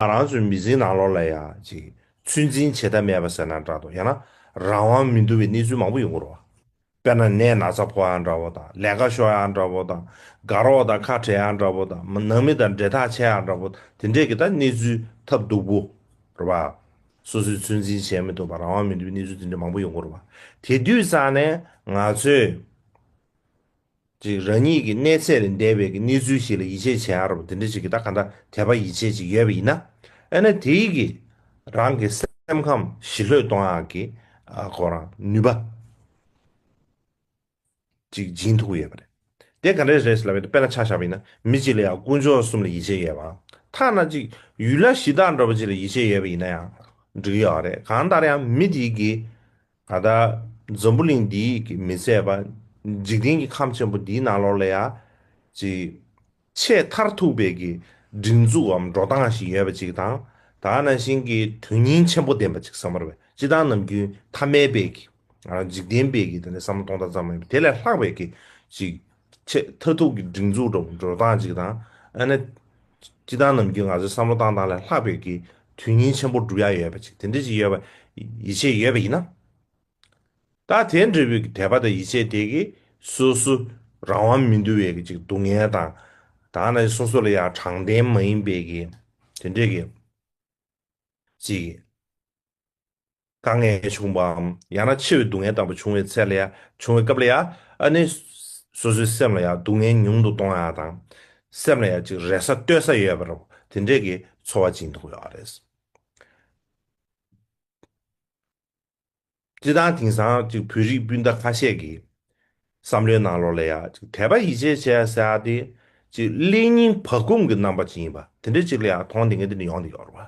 ང་རང་ཚོའི་མི་ཚེའི་ནང་ལོགས་ལ་ཡང་ཅིག་ཚོད་འཛིན་བྱེད་ཐབས་མེད་པ་ཟེར་ན་འདྲ་འདུག་ཡང་ན་རང་དབང་མི་འདུག་པའི་གནས་ཚུལ་མང་པོ་ཡོང་གི་རོགས། དཔེར་ན་ནད་ན་ཚ་ཕོག་ཡང་འདྲ་བོ་དང་ལས་ཀ་ཤོར་ཡང་འདྲ་བོ་དང་དགའ་རོགས་དང་ཁ་བྲལ་ཡང་འདྲ་བོ་དང་ནང་མི་དང་འབྲེལ་ཐག་ཆད་ཡང་འདྲ་བོ་དེ་འདྲས་ཀྱི་ད་གནས་ཚུལ་ཐབས་སྡུག་པོ་རོགས། སོ་སོའི་ཚོད་འཛིན་བྱས་མི་ཐུབ་པ་རང་དབང་མི་འདུག་པའི་གནས་ཚུལ་དེ་འདྲ་མང་པོ་ཡོང་གི་རོགས། དེ་དུས་ཙང་ནས་ང་ཚོས། ཅིག་རང་ཉིད་ཀྱི་གནས་ཚད་ལས་འདས་པའི་གི་གནས་ཚུལ་ཞིག་ལ་ཡིད་ཆེས་བྱེད་ཨ་རོ་དེ་འདྲ་ཞིག་གི་ད་ག་འདྲ་དད་པ་ཡིད་ཆེས་ཅིག་ཡོད་པ་ཡིན་ན། ཨེ་ན་དེ་ཡིག་གི་རང་གི་སེམས་ཁམས་ཞི་ལྷོད་གཏོང་ཡག་གི་སྐོར་རང་ནུས་པ་ཅིག་སྦྱིན་ཐུབ་ཀི་ཡོད་པ་རེད། དེ་ག་འདྲའི་རེད་ཟེར་ལབ་ཡོད་དཔེར་ན་ཆ་བཞག་པ་ཡིན་ན་མི་གཅིག་ལ་ཡང་དཀོན་མཆོག་གསུམ་ལ་ཡིད་ཆེས་ཡོད་པའམ་ཐ་ན་ཅིག་ཡུལ་ལྷ་གཞི་བདག་འགྲོ་བ་ཅིག་ལ་ཡིད་ཆེས་ཡོད་པ་ཡིན་ན་ཡང་འགྲིག་གི་ཡོད་རེད་གང་ལྟར་ཡང་མི་དེ་ཡིག་གི། ད་ལྟ་འཛམ་བུ་གླིང་འདི་ཡིས་ཀྱིས་མི་ཟད་པ། འཇིག་རྟེན་གྱི་ཁམས་ཆེན་པོ་འདིའི་ནང་ལོགས་ལ་ཡང། ཅིག། ཆེས་མཐར་ཐུག་པའི་ཀྱི། སྒྲིག་འཛུགས་འམ་འགྲོ་སྟངས་ཤིག་ཡོད་པ་ཅིག་དང། ད་ནང་བཞིན་གྱི་དོན་སྙིང་ཆེན་པོ་ལྡན་པ་ཅིག་བསམ་བར་བས་སྤྱི་དང་ནམ་རྒྱུན་ཐ་མལ་པའི་ཀྱི། འཇིག་རྟེན་པའི་ཀྱི་དེ་ནས་བསམ་བློ་གཏོང་སྟངས་ཙམ་མ་ཡིན་པར་དེ་ལས་ལྷག་པའི་ཀྱི། ཅིག། ཆེས་མཐར་ཐུག་གི་སྒྲིག་འཛུགས་སྒྲོམ་འགྲོལ་སྟངས་ཅིག་དང། ཨ་ནེ། སྐྱིད་སྡང་རྣམས་ཀྱིས་ང་ཚོའི་བསམ་བློ་བཏང་སྟངས་ལས་ལྷག་པའི་གི་དོན་སྙིང་ཆེན་པོ་བསྒྲུབ་ཡ་ཡོད་པ་ཅིག་དེ་འདྲ་ཅིག་ཡོད་པ་ཡིད་ཆེས་ཡོད་པ་ཡིན་ན། ད་དེ་འདྲ་བོའི་གི་དད་པ་དང་ཡིད་ཆེས་དེ་གི་སོ་སོ་རང་དབང་མི་འདུ་བའི་གི་ཅིག་སྡུག་བསྔལ་དང། ད་ང་ཅིག་སོ་སོ་ལ་ཡང་དྲང་བདེན་མ་ཡིན་པའི་གི་དེ་འདྲའི་གི་ཅིག། དཀའ་ངལ་བྱུང་བའམ་ཡང་ན་ཆེས་བའི་སྡུག་བསྔལ་དང་པོ་བྱུང་བའི་ཚད་ལ་ཡང་བྱུང་བའི་སྐབས་ལ་ཡང་ཨ་ནི། སོ་སོའི་སེམས་ལ་ཡང་སྡུག་བསྔལ་ཉུང་དུ་གཏོང་ཡག་དང། སེམས་ལ་ཡང་ཅིག་རེ་ས་གཏོད་ས་ཡོད་པ་རུ་དེ་འདྲས་ཀྱི་འཚོ་བ་སྦྱིན་ཐུབ་ཡོད་རེད། སྤྱི་དང་དེང་སང་ཅིག་བོད་རིགས་སྤུན་ཟླ་ཁ་ཤས་ཀྱི་བསམ་བློའི་ནང་ལོགས་ལ་ཡང་ཅིག་དད་པ་ཡིད་ཆེས་བྱེད་ཡག་ཟེར་ཡག་དེ་ཅིག་ཀླད་རྙིང་བག་འཁུམས་ཀྱི་རྣམ་པ་ཅིག་ཡིན་པ་དེ་འདྲས་ཅིག་ལ་ཡང་མཐོང་དེ་ངེས་དེ་འདྲས་ཡོང་དེ་ཡོད་རེད་བ།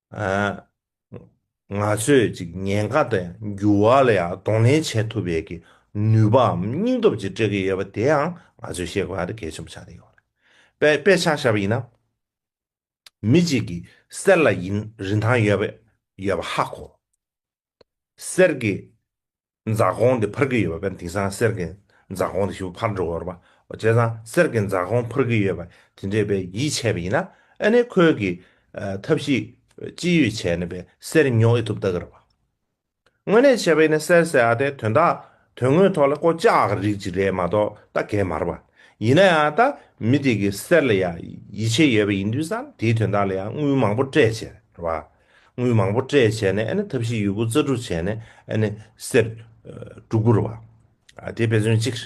ང་ཚོས་ཅིག་ཉེན་ཁ་དང་འགྱུར་བ་ལ་ཡང་གདོང་ལེན་བྱེད་ཐུབ་པའི་གི་ནུས་པའམ་སྙིང་སྟོབས་ཅིག་སྤྲད་ཀྱི་ཡོད་པ་དེ་ཡང་ང་ཚོས་ཤེས་དགོས་པ་དེ་གལ་ཆེན་པོ་ཆགས་བསྡད་ཡོད་པ་རེད། དཔེ་ཆ་བཤད་པ་ཡིན་ན། མི་གཅིག་གི་གསེར་ལ་ཡིན་རིན་ཐང་ཡོད་པ་ཡོད་པ་ཧ་གོ། གསེར་གྱི་འཛའ་གོང་དེ་འཕུར་གྱི་ཡོད་པ་བས་དེང་སང་གསེར་གྱི་འཛའ་གོང་དེ་ཞིག་པོ་འཕར་འགྲོ་གི་རེད་པ། བྱས་ཙང་གསེར་གྱི་འཛའ་གོང་འཕུར་གྱི་ཡོད་པ་དེ་འདྲས་པས་ཡིད་ཆེས་པ་ཡིན་ན་ཨ་ནི་ཁོས་གི་ཐབས་ཤིག་ཅི་ཡོད་བྱས་ནས་པས་གསེར་ཉོ་ཨེ་ཐུབ་ལྟ་གི་རེད་པ། དངོས་གནས་བྱས་པ་ཡིན་ན་གསེར་ཟེར་ཨ་དེ་དོན་དག་དོན་དངོས་ཐོག་ལ་བསྐོ་བཅག་གི་རིགས་ཅིག་རེད་མ་གཏོགས་ད་གད་མ་རེད་པ། ཡིན་ན་ཡང་ད་མི་དེ་གི་གསེར་ལ་ཡང་ཡིད་ཆེས་ཡོད་པ་ཡིན་དུས་སང་དེའི་དོན་དག་ལ་ཡང་དངུལ་མང་པོ་སྤྲད་བྱས་རེད་པ། དངུལ་མང་པོ་སྤྲད་བྱས་ནས་ཨ་ནི་ཐབས་ཤེས་ཡུལ་པོ་རྩ་དྲུག་བྱས་ནས་ཨ་ནི་གསེར། དྲུག་བོར་བ། ཨ་དེ་དཔེ་མཚོན་གཅིག།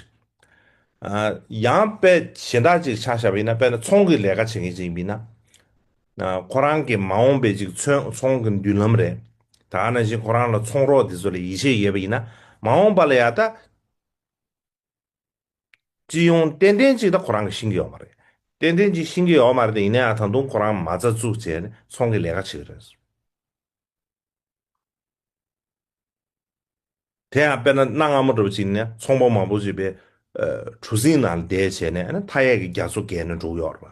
ཨ་ཡང་དཔེ་གཞན་དག་ཅིག་ཆགས་བྱ་བས་ན་དཔེ་ན་ཚོང་གི་ལས་ཀ་བྱེད་མཁན་ཅིག་ཡིན་པས་ན། ཨ་ཁོ་རང་གི་མ་འོངས་པའི་ཅིག་ཚོན་ཚོང་གི་མདུན་ལམ་རེད། ད་ཨ་ན་བཞིན་ཁོ་རང་ལ་ཚོང་རོགས་དེ་ཚོ་ལ་ཡིད་ཆེས་ཡོད་པས་ཡིན་ན་མ་འོངས་པ་ལ་ཡ་ད། སྤྱི་ཡོངས་ཏན་ཏན་གཅིག་དང་ཁོ་རང་གི་ཤིང་གི་ཡོག་མ་རེད། ཏན་ཏན་གཅིག་ཤིང་གི་ཡོག་མ་རེད་ཡིན་ན་ཡང་ད་དུང་ཁོ་རང་མ་རྩ་བཙུགས་བྱས་ནས་ཚོང་གི་ལས་ཀ་བྱེད་ཀྱི་རེད། དེ་ཡང་དཔེར་ན་གནའ་སྔ་མོ་འགྲོ་བ་གཅིག་ནས་ཚོང་པ་མང་པོ་ཞིག་པའི་གྲུ་གཟིངས་ནང་བསྡད་བྱས་ནས་མཐའ་ཡས་ཀྱི་རྒྱ་མཚོ་བརྒལ་ནས་འགྲོ་གི་ཡོག་རེད་པ།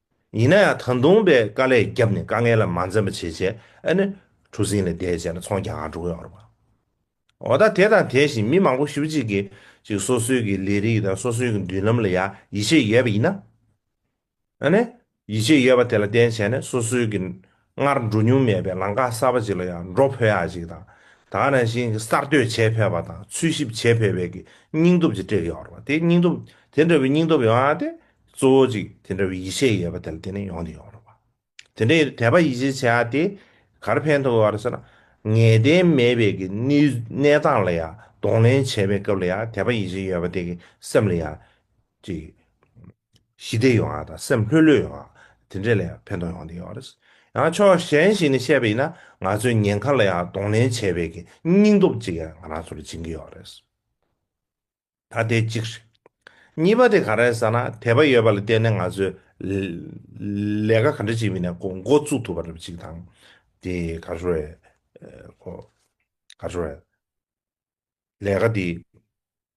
ཡིན་ན་ཡང་ད་དུང་པའི་དཀའ་ལས་བརྒྱབ་ནས་དཀའ་ངལ་ལ་མ་འཛེམ་པ་བྱེད་ཆེད་ཨ་ནི་གྲུ་གཟིངས་ལས་བསྡད་བྱས་ན་ཚོང་རྒྱག་འགྲོ་གི་ཡོད་རེད། འོ་ད་དེ་དང་དེ་བཞིན་མི་མང་པོ་ཞུ་གཅིག་གིས་ཅིག་སོ་སོའི་གི་ལས་རིགས་དང་སོ་སོའི་གི་མདུན་ལམ་ལ་ཡང་ཡིད་ཆེས་ཡོད་པ་ཡིན་ན། ཨ་ནི་ཡིད་ཆེས་ཡོད་པ་དེ་ལ་བརྟེན་བྱས་ནས་སོ་སོའི་གི། སྔར་འགྲོ་མྱོང་མེད་པའི་ལམ་ཁ་གསར་པ་ཅིག་ལ་ཡང་འགྲོ་ཕོད་ཡག་ཅིག་དང། ད་ག་ནང་བཞིན་གསར་གཏོད་བྱེད་ཕོད་པ་དང་འཚོལ་ཞིབ་བྱེད་ཕོད་པའི་གི་སྙིང་སྟོབས་ཅིག་སྤྲད་ཡོད་རེད་བ། དེ་སྙིང་སྟོབས་དེ་འདྲ་བའི་སྙིང་སྟོབས་ཡོང་ཡང་དེ་གཙོ་བོ་ཅིག་དེ་འདྲ་བའི་ཡིད་ཆེས་ཡོད་པ་དེ་ལ་བརྟེན་ནས་ཡོང་དེ་ཡོད་རེད་བ། དེ་འདྲའི་དད་པ་ཡིད་ཆེས་བྱེད་ཡག་དེ་གར་ཕན་ཐོགས་ཡོད་རེད་ཟེར་ན། ངེས་གཏན་མེད་པའི་གི་གནས་སྟངས་ལ་ཡང་གདོང་ལེན་བྱེད་པའི་སྐབས་ལ་ཡང་དད་པ་ཡིད་ཆེས་ཡོད་པ་དེ་གི་སེམས་ལ་ཡང། ཅིག། ཞི་བདེ་ཡོང་བ་དང་སེམས་ལྷོད་ལྷོད་ཡོང་བ། དེ་འདྲས་ལ་ཡང་ཕན་ཐོགས་ཡོང་བསྡད་ཡོད་པ་རེད། ཡང་ཕྱོགས་གཞན་ཞིག་ནས་བཤད་པ་ཡིན་ན་ང་ཚོའི་ཉེན་ཁ་ལ་ཡང་གདོང་ལེན་བྱེད་པའི་སྙིང་སྟོབས་ཅིག་ཡང་ང་རང་ཚོར་སྦྱིན་གྱི་ཡོད་རེད། ད་དེ་གཅིག་རེད། གཉིས་པ་དེ་ག་རེད་ཟེར་ན་དད་པ་ཡོད་པ་ལ་བརྟེན་ནས་ང་ཚོས་ལས་ཀ་ག་འདྲ་ཞིག་མིན་ནས་འགོ་བཙུགས་ཐུབ་པ་རེད་ཅིག་དང། དེ་ག་རེ་རེད། ག་རེ་རེད། ལས་ཀ་འདི།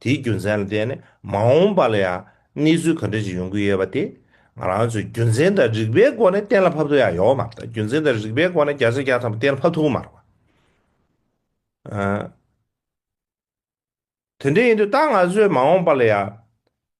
དེའི་རྒྱུ་མཚན་ལ་བརྟེན་ནས་མ་འོངས་པ་ལ་ཡང་གནས་ཚུལ་ག་འདྲ་ཞིག་ཡོང་གི་ཡོད་པ་དེ་ང་རང་ཚོས་རྒྱུ་མཚན་དང་རིགས་པའི་སྒོ་ནས་གཏན་ལ་ཕབ་ཐུབ་ཡག་ཡོད་མ་རེད་རྒྱུ་མཚན་དང་རིགས་པའི་སྒོ་ནས་རྒྱ་ཆ་རྒྱག་ཐབས་གཏན་ལ་ཕབ་ཐུབ་གི་མ་རེད། དེ་འདྲ་ཡིན་དུས་ད་ང་ཚོས་མ་འོངས་པ་ལ་ཡང་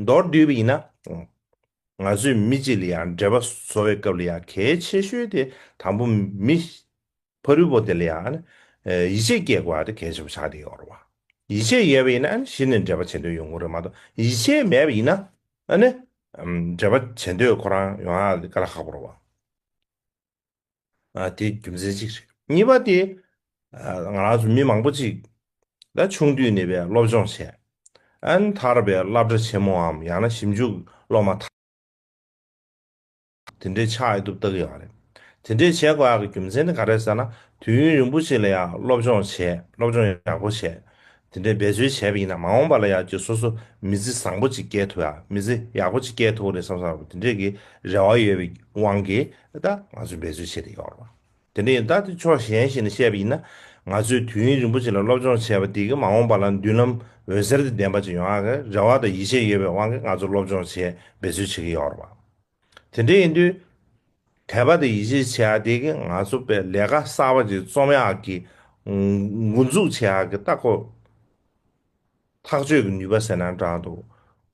མདོར་བསྡུས་པ་ཡིན་ན། ང་ཚོས་མི་གཅིག་ལ་ཡང་འབྲེལ་པ་བཟོ་བའི་སྐབས་ལ་ཡང་གལ་ཆེ་ཤོས་དེ་དང་པོ་མི། ཕ་རུལ་པོ་དེ་ལ་ཡང། ཡིད་ཆེས་སྐྱེ་དགོས་པ་དེ་གལ་ཆེན་པོ་ཆགས་ཏེ་ཡོད་རེད། ཡིད་ཆེས་ཡོད་པ་ཡིན་ན་གཞི་ནས་འབྲེལ་པ་བྱེད་འདོད་ཡོང་གི་རེད་མ་གཏོགས་ཡིད་ཆེས་མེད་པ་ཡིན་ན། འབྲེལ་པ་བྱེད་འདོད་ཁོ་རང་ཡོང་ཡ་དེ་ག་ལ་ཁག་པོ་རེད། ཨ་དེ་རྒྱུ་མཚན་གཅིག་རེད་གཉིས་པ་དེ་ཨ་ང་རང་ཚོ་མི་མང་པོ་གཅིག་ད་ཆུང་དུས་ནས་པའི་སློབ་སྦྱོང་བྱས་ཨན་ཐར་པའི་བསླབ་གྲྭ་ཆེན་མོའམ་ཡང་ན་ཞིབ་འཇུག་སློབ་མ་ཐ་དེ་འདྲས་ཆགས་ཡོད་དུབ་བཏགས་ཡོད་རེད་དེ་འདྲས་བྱས་དགོས་ཡག་གི་རྒྱུ་མཚན་ནི་ག་རེད་ཟེར་ན་དུས་ཡུན་རིང་པོ་ཞིག་ལ་ཡང་སློབ་སྦྱོང་བྱས་སློབ་སྦྱོང་ཡག་པོ་བྱས་དེ་འདྲའི་འབད་རྩོལ་བྱས་པ་ཡིན་ན་མ་འོངས་པ་ལ་ཡང་ཀྱི་སོ་སོ་མི་ཚེ་བཟང་པོ་ཅིག་སྐྱེལ་ཐུབ་ཡ་མི་ཚེ་ཡག་པོ་ཅིག་སྐྱེལ་ཐུབ་རེད་བསམ་བསམ་དེ་འདྲའི་གི་རེ་བ་ཡོད་པའི་དབང་གིས་ད་ང་ཚོས་འབད་རྩོལ་བྱེད་དེ་ཡོད་རེད། དེ་འདྲ་ཡིན་ད་དེ་ཕྱོགས་གཞན་ཞིག་ནས་བཤད་པ་ཡིན་ན་ང་ཚོས་དུས་ཡུན་རིང་པོ་ཅིག་ལ་སློབ་སྦྱོང་བྱས་པ་དེ་གི་མ་འོངས་པ་ལ་མདུན་ལམ་འོད་ཟེར་དེ་ལྡན་པ་ཅིག་ཡོང་ཡ་གི་རེ་བ་དང་ཡིད་ཆེས་ཡོད་པའི་དབང་གིས་ང་ཚོ་སློབ་སྦྱོང་བྱེད་འབད་རྩོལ་བྱེད་ཀྱི་ཡོད་རེད། དེ་འདྲ་ཡིན་དུས། དད་པ་དང་ཡིད་ཆེས་བྱེད་ཡག་དེ་གིས་ང་ཚོ་པས་ལས་ཀ་གསར་པ་ཅིག་རྩོམ་ཡག་གིས། མགོ་འཛུགས་བྱེད་ཡག་གི་ལྟ་སྐོར། ཐག་གཅོད་ཀྱི་ནུས་པ་ཟེར་ན་འདྲ་འདུག་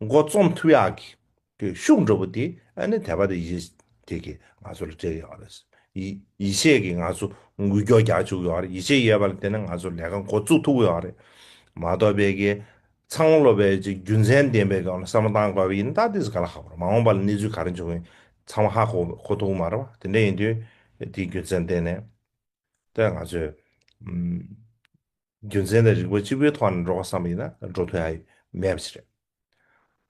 མགོ་རྩོམ་ཐུབ་ཡག་གིས། དེ་ཤུགས་འགྲོ་པོ་དེ་ནི་དད་པ་དང་ཡིད་ཆེས་དེ་གིས་ང་ཚོ་ལ་སྤྲད་ཡོད་རེད། ཡིད་ཆེས་ཀྱིས་ང་ཚོ་འགུལ་སྐྱོག་རྒྱག་བཅུག་ཡོད་རེད་ཡིད་ཆེས་ཡོད་པ་ལ་བརྟེན་ནས་ང་ཚོ་ལས་ཀ་མགོ་བཙུགས་ཐུབ་ཡོད་རེད་མ་གཏོགས་པས་ཀྱི། ཚང་སློབ་པའི་རྒྱུ་མཚན་ལྡན་པའི་སྒང་ལ་བསམ་བློ་གཏང་དགོས་པ་ཡིན་ད་དེས་ག་ལ་ཧ་གོ་ར་མ་འོངས་པ་ལ་གནས་ཚུལ་ག་རེ་འབྱུང་གི་ཚང་མ་ཧ་གོ་གོ་ཐུག་མ་རེད་བ་དེ་འདྲ་ཡིན་དུས་དེའི་རྒྱུ་མཚན་བསྟན་ནས་ད་ང་ཚོས་རྒྱུ་མཚན་དང་རིག་པ་གཅིག་པོའི་ཐོག་ནས་འགྲོ་ག་བསམ་པ་ཡིན་ན་འགྲོ་ཐུ་ཧ་མེད་པ་ཞིག་རེད་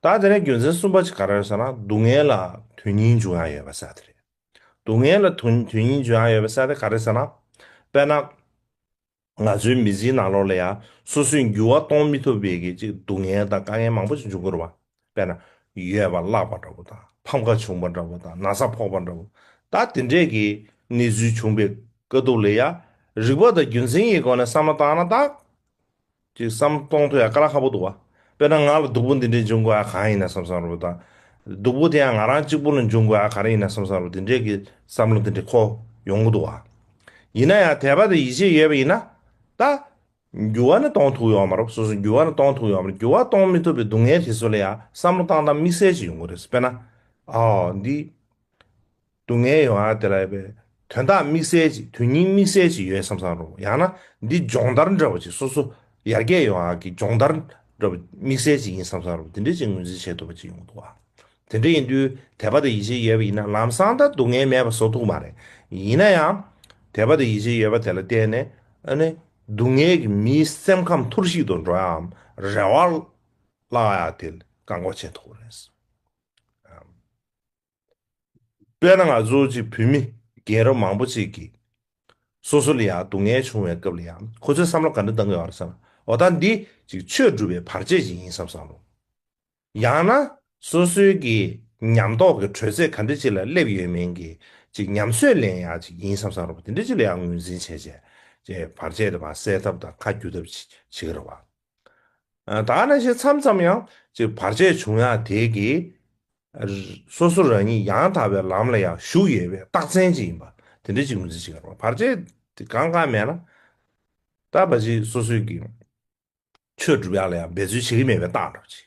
ད་དེ་ནས་རྒྱུ་མཚན་གསུམ་པ་ཅིག་ག་ར་རེད་ཟེར་ན་སྡུག་བསྔལ་ལ་དོན་སྙིང་འབྱུང་ཡ་ཡོད་པ་ས་དེ་རེད་སྡུག་བསྔལ་ལ་དོན་སྙིང་འབྱུང་ཡ་ཡོད་པ་ས་དེ་ག་རེ་ཟེར་ན་དཔེར་ན་ང་ཚོའི་མི་ཚེའི་ནང་ལོགས་ལ་ཡང་སོ་སོའི་འགྱུར་བ་གཏོང་མི་ཐུབ་པའི་གི་ཅིག་སྡུག་བསྔལ་དང་དཀའ་ངལ་མང་པོ་ཅིག་འབྱུང་དགོས་རུང་བ། དཔེར་ན། ཡོལ་བ་བརླག་པ་འདྲ་བོ་དང་ཕམ་ཁ་བྱུང་བ་འདྲ་བོ་དང་ན་ཚ་ཕོག་པ་འདྲ་བོ། ད་དེ་འདྲས་གི་གནས་ཚུལ་བྱུང་པའི་དཀའ་སྡུག་ལ་ཡང་རིག་པ་དང་རྒྱུ་མཚན་གྱི་སྒོ་ནས་བསམ་བློ་བཏང་ན་དག་ཅིག་བསམ་གཏོང་དུ་ཡང་དཀའ་ལ་ཁག་པོ་འདུག་བ། དཔེར་ན་ང་ལ་སྡུག་པོ་འདི་འདྲའི་འབྱུང་དགོས་ཨ་གང་ཡིན་ན་བསམ་བསམ་རུང་དང། སྡུག་པོ་དེ་ཡང་ང་རང་གཅིག་པུ་ལ་འབྱུང་དགོས་ཨ་ག་རེ་ཡིན་ན་བསམ་བསམ་རུང་དེ་འདྲའི་གི་བསམ་བློ་འདི་འདྲའི་ཁོ་ཡོང་གི་འདུག་བ། ཡིན་ན་ཡང་དད་པ་དང་ཡིད་ཆེས་ཡོད་པ་ཡིན་ན། ད། འགྱུར་བ་ནི་གཏོང་ཐུག་ཡོང་མ་རུང་སོ་སོ་འགྱུར་བ་ནི་གཏོང་ཐུག་ཡོང་མ་རུང་འགྱུར་བ་གཏོང་མི་ཐུབ་པའི་སྡུག་བསྔལ་དེ་ཚོ་ལ་ཡང་བསམ་བློ་བཏང་སྟངས་དམིགས་བསལ་ཅིག་ཡོང་གི་རེད། དཔེར་ན། འོ། འདི། སྡུག་བསྔལ་ཡོང་ཡ་དེ་ལ་ཡོད་པའི། དོན་དག་དམིགས་བསལ་ཅིག་དོན་སྙིང་དམིགས་བསལ་ཅིག་ཡོད་བསམ་བསམ་རུང་ཡང་ན་འདི་སྦྱོང་བརྡར་འདྲ་བ་ཅིག་སོ་སོ་ཡར་རྒྱས་ཡོང་ཡ་གི་སྦྱོང་བརྡར་འདྲ་བ་དམིགས་བསལ་ཅིག་ཡིན་བསམ་བསམ་རུང་དེ་འདྲའི་ཅིག་ངོས་འཛིན་བྱེད་ཐུབ་པ་ཅིག་ཡོང་འདུག་བ། དེ་འདྲ་ཡིན་དུས་དད་པ་དང་ཡིད་ཆེས་ཡོད་པ་ཡིན་ན་ལམ་སང་ད་སྡུག་བསྔལ་མེད་པ་བཟོ་ཐུབ་མ་རེད། ཡིན་ན་ཡང། དད་པ་དང་ཡིད་ཆེས་ཡོད་པ་དེ་ལ་བརྟེན་ནས་ཨ་ནི་སྡུག་བསྔལ་གྱི་མིའི་སེམས་ཁམས་འཐོར་ཞིག་ཏུ་འགྲོ་ཡའམ་རེ་བ་བརླག་ཡ་དེ་བཀག་འགོག་བྱེད་ཐུབ་པ་རེད་བསམ། དཔེར་ན་ང་ཚོ་གཅིག་བུད་མེད་རྒན་རབས་མང་པོ་གཅིག་གིས། སོ་སོ་ལ་ཡང་སྡུག་བསྔལ་བྱུང་བའི་སྐབས་ལ་ཡང་ཁོ་ཚོའི་བསམ་བློ་ག་འདྲ་གཏང་དགོས་ཨང་བསམ། འོ་ད་འདི་ཅིག་ཆོས་སྒྲུབ་པའི་བར་ཆད་ཅིག་ཡིན་བསམ་བསམ་རུང། ཡང་ན་སོ་སོའི་གི་ཉམས་རྟོགས་ཀྱི་དྲོད་ཚད་ག་འདྲ་ཅིག་ལ་སླེབས་ཡོད་མིན་གྱི་ཅིག་ཉམས་སུ་ལེན་ཡག་ཅིག་ཡིན་བསམ་བསམ་རུང་དེ་འདྲ་ཅིག་ལ་ཡང་ངོས་འཛིན་བྱས་བྱས་བར་ཆད་དེ་མ་སེལ་ཐབས་དང་ཁ་བསྒྱུར་ཐབས་ཅིག་བྱེད་ཀྱི་རེད་བ། དག་ན་ཞེས་མཚམས་ཙམ་ཡང་ཅིག་བར་ཆད་བྱུང་ཡང་དེ་གིས། སོ་སོ་རང་ཉིད་ཡང་དག་པའི་ལམ་ལ་ཡང་ཞུགས་ཡོད་པའི་རྟགས་མཚན་ཅིག་ཡིན་པ་དེ་འདྲ་ཅིག་མི་ཚེ་ཕྱི་གར་བར་ཆད་དེ་གང་གང་མེད་ན། ད་བར་ཅིག་སོ་སོས་ཀྱིས་ཆོས་སྒྲུབ་ཡག་ལ་ཡང་འབད་རྩོལ་བྱེད་ཀྱི་མེད་པའི་རྟགས་འགྲོ་ཅིག།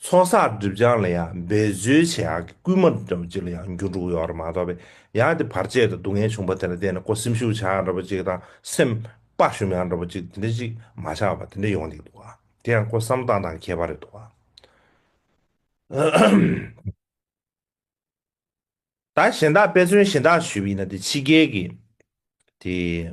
ཚོང་ཟོག་སྒྲིབ་སྦྱང་ལ་ཡང་འབད་རྩོལ་བྱེད་ཡག་གི་སྐུལ་མ་འདྲ་བོ་ཅིག་ལ་ཡང་འགྱུར་འགྲོ་གི་ཡོད་རེད་མ་གཏོགས་པས་ཡང་དེ་བར་ཆད་དང་སྡུག་བསྔལ་བྱུང་བ་དེ་ལ་བརྟེན་ནས་ཀོ་སེམས་ཤུགས་ཆག་ཡག་འདྲ་བོ་ཅིག་དང་སེམས་དཔའ་ཞུམ་ཡག་འདྲ་བོ་ཅིག་དེ་འདྲ་ཅིག་མ་ཆག་པ་དེ་འདྲ་ཡོང་སྡིག་འདུག་ག་དེ་ཡང་ཀོ་བསམ་སྟངས་དང་ཁྱད་པར་རེད་འདུག་ག། ད་གཞན་དག་དཔེ་མཚོན་གཞན་དག་ཞུས་པ་ཡིན་ན་དེ་ཕྱི་རྒྱལ་གྱི་དེ།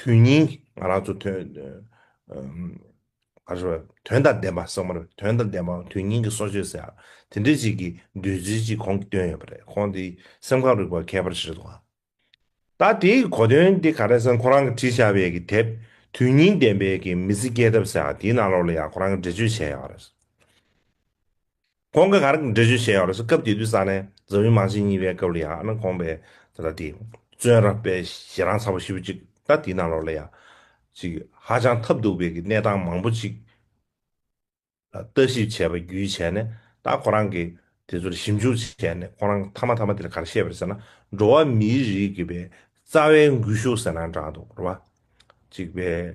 དོན་སྙིང། ང་རང་ཚོ་དོན། ག་རེ་བ། དོན་དང་ལྡན་པ་གསང་བ་རེད། དོན་དང་ལྡན་པའམ་དོན་སྙིང་གི་གསོ་བཅོས་ཟེར། དེ་འདྲའི་ཅིག་གི་འདོད་ཚུལ་ཅིག་གོང་གི་བཏོན་ཡོད་པ་རེད། ཁོང་དེ་སེམས་ཁམས་རིག་པ་མཁས་པར་བཞེད་འདུག་ཨ། ད་དེའི་གོ་དོན་དེ་ག་རེ་ཟེར་ཁོ་རང་གི་བྲིས་བྱ་བའི་གི་དེབ། དོན་སྙིང་ལྡན་པའི་གི་མི་ཚེ་སྐྱེལ་ཐབས་ཟེར་ཡང་དེའི་ནང་ལོགས་ལ་ཡང་ཁོ་རང་གི་འགྲེལ་བརྗོད་བྱས་ཡོད་པ་རེད། ཁོང་གི་ག་རེ་འགྲེལ་བརྗོད་བྱས་ཡོད་རེད་ཟེར་སྐབས་དེ་དུས་ས་གནས་འཛམ་གླིང་མང་ཆེན་གཉིས་པའི་སྐབས་ལ་ཡང་ཨ་ནེ་ཁོང་པས་ད་ལྟ་དེ། བཙོན་ར་པའི་ཞེ་རང་ཚ་པོ་ཞིབ་ཅིག་ལྟ་དེའི་ནང་ལོགས་ལ་ཡང། ཅིག་ཧ་ཅང་ཐབས་སྡུག་པའི་གི་གནས་སྟངས་མང་པོ་ཅིག་ལ་ལྟ་ཞིབ་བྱས་པ་བརྒྱུད་བྱས་ནས་ད་ཁོ་རང་གིས་དེ་ཚོ་ལ་ཞིབ་འཇུག་བྱས་ནས་ཁོང་རང་མཐའ་མ་ཐ་མ་དེ་ལ་ག་རེ་བཤད་པ་རེད་ཟེར་ན་འགྲོ་བ་མིའི་རིགས་ཀྱི་པའི་རྩ་བའི་འགུལ་ཤུགས་ཟེར་ན་འདྲ་འདུག་རེད་བ། ཅིག་པའི།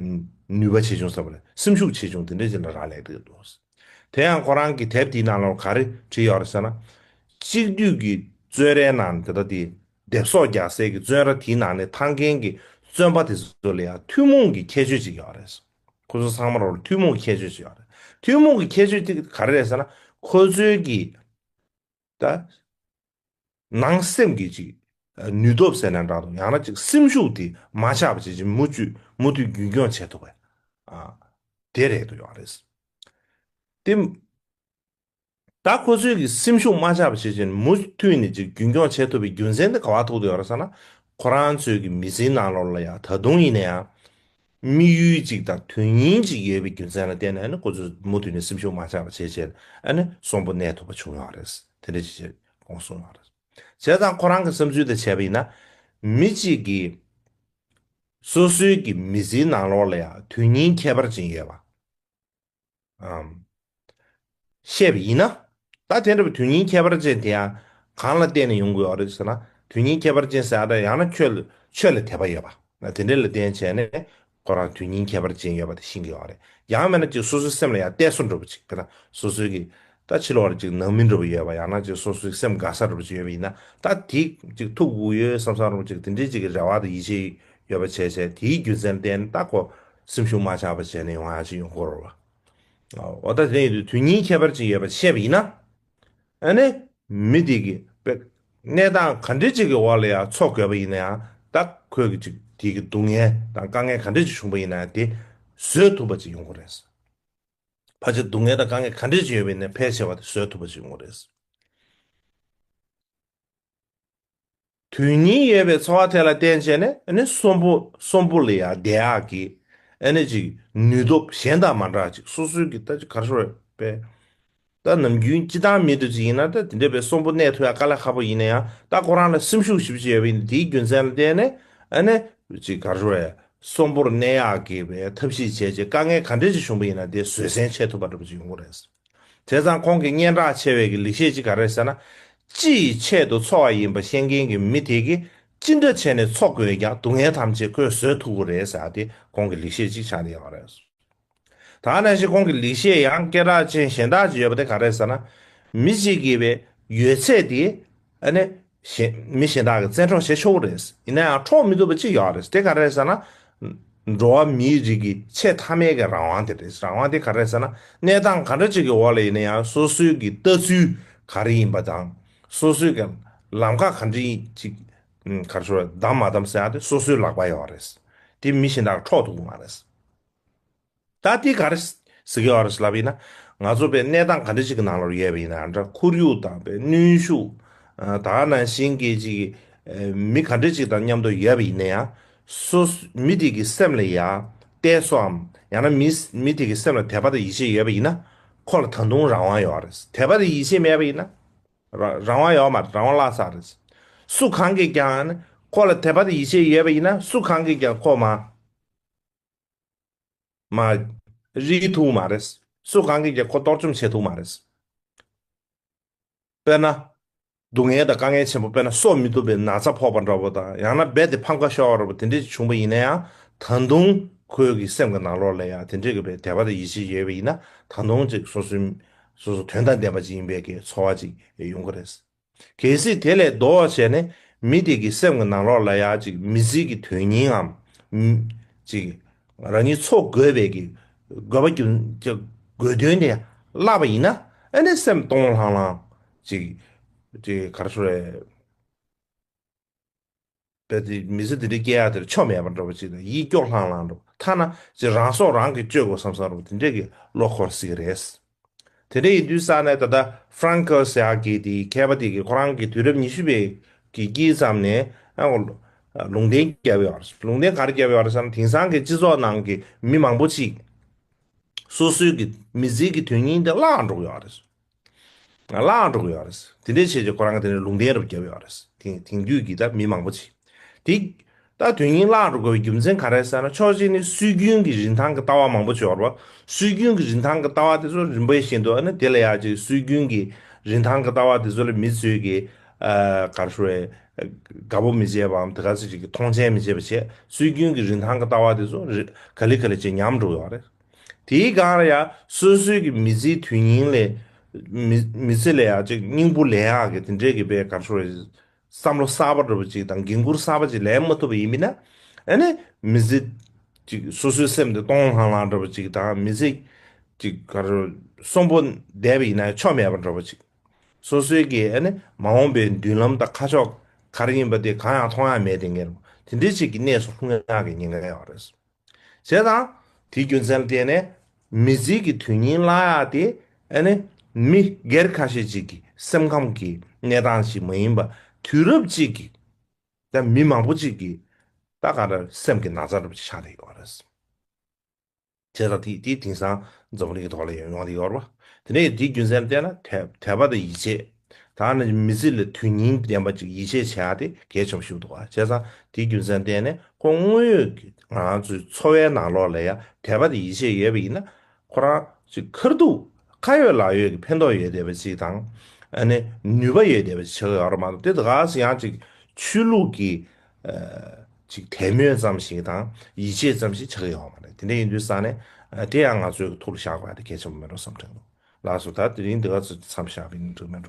ནུས་པ་ཆེ་ཆུང་བསམ་པ་སེམས་ཤུགས་ཆེ་ཆུང་དེ་འདྲ་ཅན་ལ་རག་ལས་འདུག་འདུག། དེ་ཡང་ཁོ་རང་གི་དེབ་དེའི་ནང་ལོར་ག་རེ་བྲིས་ཡོད་རེད་ཟེར་ན། གཅིག་བསྡུས་ཀྱི་བཙོན་རའི་ནང་དེ་དག་དེའི་དེབ་སོགས་རྒྱག་སའི་གི་བཙོན་ར་དེའི་ནང་ནས་འཐང་མཁན་གྱི་བཙོན་པ་དེ་ཚོ་ལ་ཡང་ཐུན་མོང་གི་ཁྱད་ཆོས་ཅིག་ཡོད་རེད་ཟེར། ཁོ་ཚོ་ཚང་མ་རོ་ལ་ཐུན་མོང་གི་ཁྱད་ཆོས་ཅིག་ཡོད་རེད། ཐུན་མོང་གི་ཁྱད་ཆོས་དེ་ག་རེ་རེད་ཟེར་ན། ཁོ་ཚོའི་གི་ད། ནང་སེམས་ཀྱི་ཅིག། ནུས་སྟོབས་ཟེར་ན་འདྲ་འདུག་ཡང་ན་ཅིག་སེམས་ཤུགས་དེ་མ་ཆག་པ་བྱེད་ཅིག་མུ་ཅུད་མུ་མཐུད་རྒྱུན་སྐྱོང་བྱེད་ཐུབ་པ། དེ་རེད་འདུག་ཡང་རེད། དེ། ད་ཁོ་ཚོའི་གི་སེམས་ཤུགས་མ་ཆག་པ་བྱེད་ཅིག་མུ་མཐུད་ནས་ཅིག་རྒྱུན་སྐྱོང་བྱེད་ཐུབ་པའི་རྒྱུ་མཚན་དེ་ག་བ་ཐུག་འདུག་ཡང་རེད་ས་ན། ཁོ་རང་ཚོའི་གི་མི་ཚེའི་ནང་ལོར་ལ་ཡང་ད་དུང་ཡིན་ན་ཡང། དམིགས་ཡུལ་གཅིག་དང་དོན་སྙིང་གཅིག་ཡོད་པའི་རྒྱུ་མཚན་ལ་བརྟེན་ནས་ཁོ་ཚོས་མུ་མཐུད་ནས་སེམས་ཤུགས་མ་ཆག་པ་བྱས་རྗེས་ནས་གསོན་པོ་གནས་ཐུབ་པ་བྱུང་ཡོད་རེད། དེ་འདྲ་བྱས་རྗེས་ཁོང་གསོན་ཡོད་རེད། བྱས་ཙང་ཁོ་རང་གི་བསམ་ཚུལ་དང་བྱས་པ་ཡིན་ན། མི་གཅིག་གིས་སོ་སོའི་གི་མི་ཚེའི་ནང་ལོགས་ལ་ཡང་དོན་སྙིང་ཁྱད་པར་ཅན་ཡོད་པ། ཨམ། བཤད་པ་ཡིན་ན། ད་དེ་འདྲ་བའི་དོན་སྙིང་ཁྱད་པར་ཅན་དེ་ཡང་གང་ལ་བརྟེན་ནས་ཡོང་དགོས་བ་རེད་ཟེར་ན་དོན་སྙིང་ཁྱད་པར་ཅན་ཟེར་ཡང་ན་ཁྱོད་ལ་ཆོས་ལ་དད་པ་ཡོད་པ་ན་དེ་འདྲས་ལ་བརྟེན་བྱས་ནས་ཁོ་རང་དོན་སྙིང་ཁྱད་པར་ཅན་ཡོད་པ་དེ་ཤེས་དགོས་བ་རེད་ཡང་མེད་ན་ཅིག་སོ་སོའི་སེམས་ལ་ཡང་གཏད་སོ་འགྲོ་བ་ཅིག་དེ་ན་སོ་སོའི་གི་ད་ཕྱི་ལོགས་ལ་ཅིག་ནང་མི་འགྲོ་བ་ཡོད་པ་ཡང་ན་ཅིག་སོ་སོའི་སེམས་དགའ་ས་རུ་ཅིག་ཡོད་པ་ཡིན་ན་ད་དེ་ཅིག་ཐུགས་དབུགས་ཡོད་བསམ་བསམ་རུང་ཅིག་དེ་འདྲའི་ཅིག་གི་རེ་བ་དང་ཡིད་ཆེས་ཡོད་པ་བྱས་བྱས་དེའི་རྒྱུ་མཚན་ཏན་ཏན་ཏག་གོ་སེམས་ཤུགས་མ་ཆག་པ་བྱས་ནས་ཡོང་ཡ་ཅིག་ཡོང་གོ་རོ་བ། འོ་ད་དེ་ནས་དུས་ཉིན་ཁྱད་པར་ཅིག་ཡོད་པ་བཤད་པ་ཡིན་ན་ཨ་ནི་མི་དེ་གི་པེ་གནས་སྟངས་ག་འདྲི་ཅིག་གི་འོག་ལ་ཡང་འཚོ་དགོས་པ་ཡིན་ན་ཡང་ད་ཁོས་གི་ཅིག་དེ་གི་སྡུག་བསྔལ་དང་དཀའ་ངལ་ག་འདྲི་ཅིག་བྱུང་པ་ཡིན་ན་ཡང་དེ་བཟོད་ཐུབ་པ་ཅིག་ཡོང་གོ་རེད། བར་གྱི་སྡུག་བསྔལ་དང་དཀའ་ངལ་ག་འདྲས་ཀྱི་ཡོད་པའི་ནད་ཕལ་ཆེ་བ་དེ་བཟོད་ཐུབ་པ་ཅིག་ངོ་རེད། དུས་སྙིང་ཡོད་པའི་འཚོ་བ་ཐད་ལ་བརྟེན་བྱས་ནས་གསོན་པོ་གསོན་པོ་ལ་ཡང་བདེ་ཡག་གི་ཅིག་ནུས་སྟོབས་གཞན་དང་མ་འདྲ་ཅིག་སོ་སོའི་གི་ད་ཅིག་གར་ཤོར་བས། ད་ནམ་རྒྱུན་སྤྱི་བཏང་མི་འདོད་ཅིག་ཡིན་ན་ད་དེ་འདོད་པའི་གསོན་པོ་གནས་ཐུ་ཡ་དཀའ་ལས་ཁག་པོ་ཡིན་ན་ཡང་ད་ཁོ་རང་ལ་སེམས་ཤུགས་ཞིབ་ཅིག་ཡོད་པ་ཡིན་ན་དེའི་རྒྱུ་མཚན་ལ་བརྟེན་ནས་ཨ་ནེ། ཅིག་ག་རེ་བས་གསོན་པོར་གནས་ཡག་གི་བའི་ཐབས་ཤེས་བྱས་རྗེས་དཀའ་ངལ་ག་འདྲས་ཅིག་བྱུང་པ་ཡིན་ན་དེ་བཟོད་སྲན་བྱས་ཐུབ་པ་འགྲོ་པ་ཅིག་ཡོང་གི་རེད། བྱས་ཙང་ཁོང་གི་སྙན་གྲགས་ཆེ་བའི་གི་ལེགས་བཤད་ཅིག་ག་རེ་ཟེར་ན། སྤྱི་ཡི་ཆེད་དུ་འཚོ་བ་ཡིན་པ་ཤེས་མཁན་གི་མི་དེ་གིས་ཅི་འདྲ་བྱས་ནས་འཚོ་དགོས་ཀྱང་སྡུག་བསྔལ་ཐམས་ཅད་ཁོས་བཟོད་ཐུབ་གི་རེད་ཟེར་ཏེ་ཁོང་གི་ལེགས་བཤད་ཅིག་ཆགས་འདི་ཡོང་གི་རེད། ད་ནས་བཞིན་ཁོང་གི་ལེགས་བཤད་ཡང་སྐད་གྲགས་ཅན་གཞན་དག་ཅིག་ཡོད་པ་དེ་གང་རེད་ཟེར་ན། མི་གཅིག་གིས་པའི་ཡོད་ཚད་དེ། ཨ་ནི། མི་གཞན་དག་གིས་བཙན་འཕྲོག་བྱེད་ཆོག་གི་རེད། ཡིན་ན་ཡང་འཕྲོག་མི་ཐུབ་པ་ཅིག་ཡོད་རེད། དེ་གང་རེད་ཟེར་ན། འགྲོ་བ་མིའི་རིགས་ཀྱི་ཆེས་མཐའ་མའི་གི་རང་དབང་དེ་རེད། རང་དབང་དེ་གང་རེད་ཟེར་ན། གནས་སྟངས་ག་འདྲ་ཅིག་གི་འོག་ལ་ཡིན་ན་ཡང་སོ་སོའི་གི་ལྟ་ཚུལ་ག་རེ་ཡིན་པ་དང། སོ་སོའི་གི་ལམ་ཁ་ག་འདྲི་ཅིག་གར་ཞོར་བདམས་མ་བདམས་ཟེར་ཡང་དེ་སོ་སོའི་ལག་པ་ཡོད་རེད། དེ་མི་གཞན་དག་གིས་འཕྲོག་ཐུབ་གི་མ་རེད། ད་དེ་ག་རེ། ཟི་གེ་ཨར་སི་ལབ་ཡིན་ན། ང་ཚོ་པའི་གནས་སྟངས་ག་འདྲ་ཞིག་གི་ནང་ལོར་ཡལ་བ་ཡིན་ན་འདྲ་ཁོར་ཡུག་དང་པའི་གནོན་ཤུགས། ད་ནང་བཞིན་སྐད་ཅིག་གིས། མི་ག་འདྲ་ཞིག་དང་མཉམ་དུ་ཡལ་བ་ཡིན་ན་ཡང། སོ། མི་དེ་གི་སེམས་ལ་ཡ། ཏའི་སོའམ། ཡང་ན་མི། མི་དེ་གི་སེམས་ལ་དད་པ་དང་ཡིད་ཆེས་ཡོད་པ་ཡིན་ན། ཁོ་ལ་ད་དུང་རང་དབང་ཡོད་རེད། དད་པ་དང་ཡིད་ཆེས་མེད་པ་ཡིན་ན། རང་དབང་ཡོད་མ་རེད་རང་དབང་བརླག་ཚར་རེད། སུ་གང་གིས་ཀྱང། ཁོ་ལ་དད་པ་དང་ཡིད་ཆེས་ཡོད་པ་ཡིན་ན་སུ་གང་གིས་ཀྱང་ཁོ་མ། མ་རིག་ཐུག་མ་རེད། སུ་གང་གིས་ཀྱང་ཁོ་གཏོར་བཅོམ་བྱེད་ཐུག་མ་རེད། དཔེར་ན། སྡུག་བསྔལ་དང་དཀའ་ངལ་ཆེན་པོ་དཔེར་ན་གསོག་མི་ཐུབ་པའི་ན་ཚ་ཕོག་པ་འདྲ་བོ་དང་ཡང་ན་རྦད་དེ་ཕམ་ཁ་ཤོར་བ་རེད་པོ་དེ་འདྲས་བྱུང་བ་ཡིན་ན་ཡང་ད་དུང་ཁོའི་གི་སེམས་ཀྱི་ནང་ལོགས་ལས་ཡང་དེ་འདྲས་ཀྱི་བའི་དད་པ་དང་ཡིད་ཆེས་ཡོད་པ་ཡིན་ན་ད་དུང་ཅིག་སོ་སོའི་སོ་སོ་དོན་དང་ལྡན་པ་ཅིག་ཡིན་པའི་གི་ཚོར་བ་ཅིག་ཡོང་གི་རེད། གལ་སྲིད་དེ་ལས་ཟློ་བར་བྱས་ནས་མི་དེ་གི་སེམས་ཀྱི་ནང་ལོགས་ལ་ཡང་ཅིག་མི་ཟིལ་གྱི་དོན་སྙིང་ངམ། ཅིག་རང་ཉིད་འཚོ་དགོས་པའི་གི་དགོས་པ་རྒྱུ་དགོས་དོན་དེ་བསླབ་པ་ཡིན་ན་ཨེ་ནས་སེམས་སྟོང་ལྷང་ལྷང་ཅིག། ཅིག་གར་སོ་རེད། པའི་དེ་མི་ཚེ་འདི་འདྲའི་སྐྱེ་ཡག་འདིར་ཆོ་མེད་པར་འགྲོ་བ་ཅིག་དང་ཡིད་སྐྱོ་ལྷང་ལྷང་འགྲོ་བ་ཐ་ན་ཅི་རང་སྲོག་རང་གིས་གཅོད་དགོས་སམ་བསམ་རུང་དེ་འདྲས་ཀྱི་བློ་འཁོར་སྲིད་ཀྱི་རེད། དེ་འདྲས་ཡིན་དུས་ས་གནས་ད་ལྟ Francos ཡག་གིས་དེའི་མཁས་པ་དེ་གིས་ཁོ་རང་གི་དུས་རབས་ཉི་ཤུ་པའི་གི་དཀྱིལ་ཙམ་ནས་ཨང་ལུང་བསྟན་བརྒྱབ་ཡོད་རེད། ལུང་བསྟན་ག་རེ་བརྒྱབ་ཡོད་རེད་བསམ་ན་དེང་སང་གི་སྤྱི་ཚོགས་ནང་གི་མི་མང་པོ་ཅིག་སོ་སོའི་གི་མི་ཚེའི་གི་དོན་སྙིང་དེ་བརླག་འགྲོ་གི་ཡོད་རེད། ང་ལའང་འགྲོ་གི་ཡོད་རེད། དེ་འདྲའི་ཆེད་ཀྱི་ཁོ་རང་གི་དེ་ནས་ལུང་བསྟན་རུ་བརྒྱབ་ཡོད་རེད། དེང་དུས་ཀྱི་ད་མི་མང་པོ་ཆེ་དེས། ད་དོན་སྙིང་བླངས་འགྲོ་དགོས་པའི་རྒྱུ་མཚན་ག་རེད་ཟེར་ན་ཕྱོགས་གཅིག་ནས་སྲོལ་རྒྱུན་གྱི་རིན་ཐང་གི་ལྟ་བ་མང་པོ་བྱོར་བ། སྲོལ་རྒྱུན་གྱི་རིན་ཐང་གི་ལྟ་བ་དེ་ཚོ་རིམ་པས་ཤེས་འདུག་ཨ་ནི་དེ་ལ་ཡག་ཅིག་སྲོལ་རྒྱུན་གྱི་རིན་ཐང་གི་ལྟ་བ་དེ་ཚོ་ལ་མི་ཚོས་ཀྱི། གར་ཞུ་བའི། དགའ་པོ་མི་བྱེད་པའམ་དེ་ག་ཚོད་ཅིག་གི་མཐོང་ཆེན་མི་བྱེད་པ་བྱས་སྲོལ་རྒྱུན་གྱི་རིན་ཐང་གི་ལྟ་བ་དེ་ཚོ། ག་ལི་ག་ལི་བྱས་ཉམས་འགྲོ་གི་ཡོད་རེད། དེའི་སྒང་ལ་ཡང་སོས་སོས་ཀྱི་མི་ཚེའི་དུས་སྙིང་ལས། མི་ཚེ་ལས་ཡང་ཅིག་སྙིང་བོ་ལེན་ཡག་གི་དེ་འདྲའི་གི་བེ་གར་ཤོར་བའི། བསམ་བློ་གསར་པ་འགྲོ་བ་ཅིག་དང་འགན་ཁུར་གསར་པ་ཅིག་ལེན་མ་ཐུབ་པ་ཡིན་མིན་ན། ཨ་ནི་མི་ཚེ། ཅིག་སོ་སོའི་སེམས་དེ་སྟོང་ལྷང་ལྷང་འགྲོ་བ་ཅིག་དང་མི་ཚེ། ཅིག་གར་ཤོར་གསོན་པོ་བསྡད་པ་ཡིན་ན་ཆོ་མེད་པར་འགྲོ་བ་ཅིག། སོ་སོའི་གི་ཨ་ནི་མ་འོངས་པའི་མདུན་ལམ་དང་ཁ་ཕྱོགས་གར་ཡིན་པ་དེ་གང་ཡང་མཐོང་ཡ་མེད་དེ་ངེས་རུང་དེ་འདྲའི་ཅིག་གི་གནས་སུ་ལྷུང་ཡག་གི་ཉེན་ཁ་ཡོད་རེད། ཞེས་དང། དེའི་རྒྱུ་མཚན་ལ་བརྟེན་ནས་མི་གཟིགས་ཀྱི་དོན་སྙིང་བརླག་སྟེ། ནི། མི་སྒེར་ཁ་ཤས་ཅིག་གི་སེམས་ཁམས་ཀྱི་གནས་སྟངས་ཤིག་མ་ཡིན་པར་དུས་རབས་ཅིག་གི་ནས་མི་མང་པོ་ཅིག་གིས་ད་ག་རེ་སེམས་ཀྱི་ན་ཚ་རུབ་ཅིག་ཆགས་ཏེ་ཡོད་པ་རེད། ཞེས་དང། དེ་དེ་དེང་སང་འཛམ་བུ་གླིང་གི་ཐོག་ལ་ཡང་ཡོང་སྟེ་ཡོད་རེད། དེ་ནས་དེའི་རྒྱུ་མཚན་ལ་བརྟེན་ན་དད་པ་དང་ཡིད་ཆེས། ད་ནི་མི་ཚེ་ལ་དོན་སྙིང་ལྡན་པ་ཅིག་ཡིད་ཆེས་བྱས་ཡག་དེ་གལ་ཆེན་པོ་ཞིག་འདུག་བྱས་ཙང་དེའི་རྒྱུ་མཚན་བསྟན་ནས་ཁོང་དངོས་ཡོད་ཀྱི་ང་ཚོའི་འཚོ་བའི་ནང་ལོགས་ལ་ཡང་དད་པ་དང་ཡིད་ཆེས་ཡོད་པ་ཡིན་ན་ཁོ་རང་ཅིག་མཁར་གཏུགས་ཁ་ཡོད་ལག་ཡོད་ཀྱི་ཕན་ཐོགས་ཡོད་བསྡད་པ་ཅིག་དང་ཨ་ནི་ནུས་པ་ཡོད་བསྡད་པ་ཅིག་བྱེད་གི་ཡོད་རེད་མ་གཏོགས་དེ་དགའ་ས་ཡང་ཅིག་ཆོས་ལུགས་ཀྱི་ཅིག་དད་མོས་ཙམ་ཞིག་དང་ཡིད་ཆེས་ཙམ་ཞིག་བྱེད་གི་ཡོད་མ་རེད་དེ་འདྲ་ཡིན་དུས་ས་ནས་དེ་ཡང་ང་ཚོའི་ཐུགས་ལ་བཞག་པ་ཡང་དེ་གལ་ཆེན་པོ་མིན་འགྲོ་བསམ་གྱི་འདུག་ལགས་སོ་ད་དེ་རིང་འདི་ག་ཚོད་ཀྱི་མཚམས་བཞག་པའི་འགྲིག་མིན་འགྲོ།